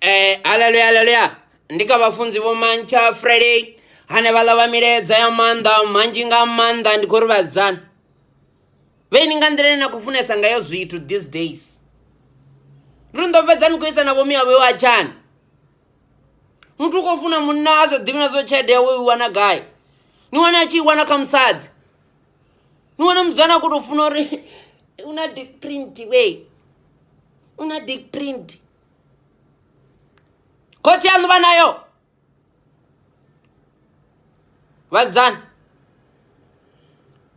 Eh haleluya haleluya ndi kha vhafunzi vho mantsha Friday hane vha ḽa milaedza ya maanḓa manzhi nga maanḓa ndi khou ri vhadzana vheni nga nḓila ine na khou funesa ngayo zwithu these days ri ndo fhedza ni khou isa na vhomi avho yo atshani muthu u khou funa munna a sa ḓivhi na zwo tshelede yawe u i wana gai ni wana a tshi i wana kha musadzi ni wana mudzana ku to funa uri u na dick print we u na dick print khotsi yaṋu vha nayo vhadzana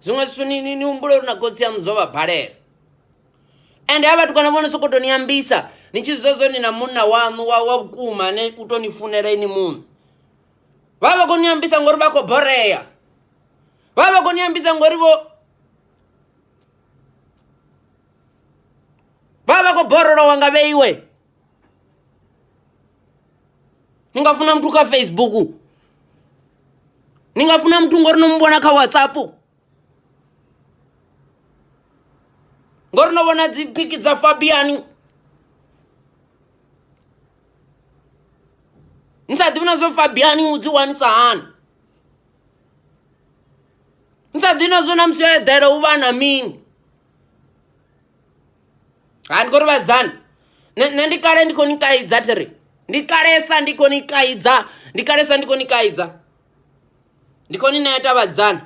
zwiṅwe zwithu ni ni- ni humbula uri na khotsi yaṋu zwo vha balela ende ha vhatukana vho no sokou tou ni ambisa ni tshi zwiḓa zwo ni na munna waṋu wa wa vhukuma ane u tou ni funela ini muṋe vha vha vha khou ni ambisa ngori vha khou borea vha vha koni ambisa ngori vho vha vha khou borolowa nga vheiwe ni nga funa muthu kha facebook ni nga funa muthu ngori no mu vhona kha whatsapp ngori no vhona dzi phiki dza fabiani ni sa ḓivhi na zwo fabiani u dzi wanisa hani ni sa ḓi nazwo na musi yo eḓela u vha na mini ha ndi khou ri vhadzana nṋe ndi kale ndi khou ni kaidza thi ri ndi kalesa ndi khou ni kaidza ndi kalesa ndi khou ni kaidza ndi khou ni ṋea tavhadzana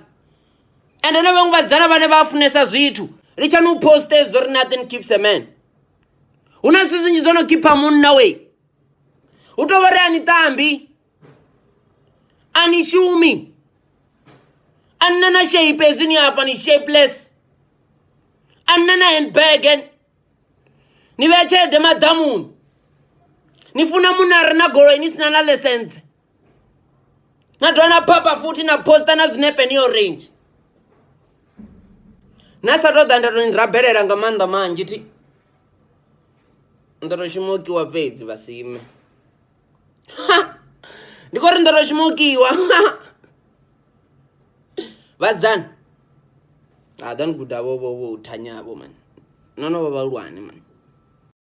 ende na vhaṅwe vhadzana vhane vha funesa zwithu litshani u poste zwo ri nothing keeps a man hu na zwithu zwinzhi zwo no khipha munna wei hu tou vha ri a ni ṱambi anishumi annana shape ezini apa ni shapeless annana handbagen ni vhea tshelede maḓamuni ni funa munna a re na goloi ni sina na ḽesentse na dovha na phapha futhi na posta na zwinepe ni orange na sa tou ḓa nda tou ni rabelela nga maanḓa manzhi thi nda tou shuma u kiwa fhedzi vhasime ndi khou ri ndo tou shuma u kiwa vhadzani a ḓo ni guda vho vho vho u thanyavho mani no no vha vhahulwane mani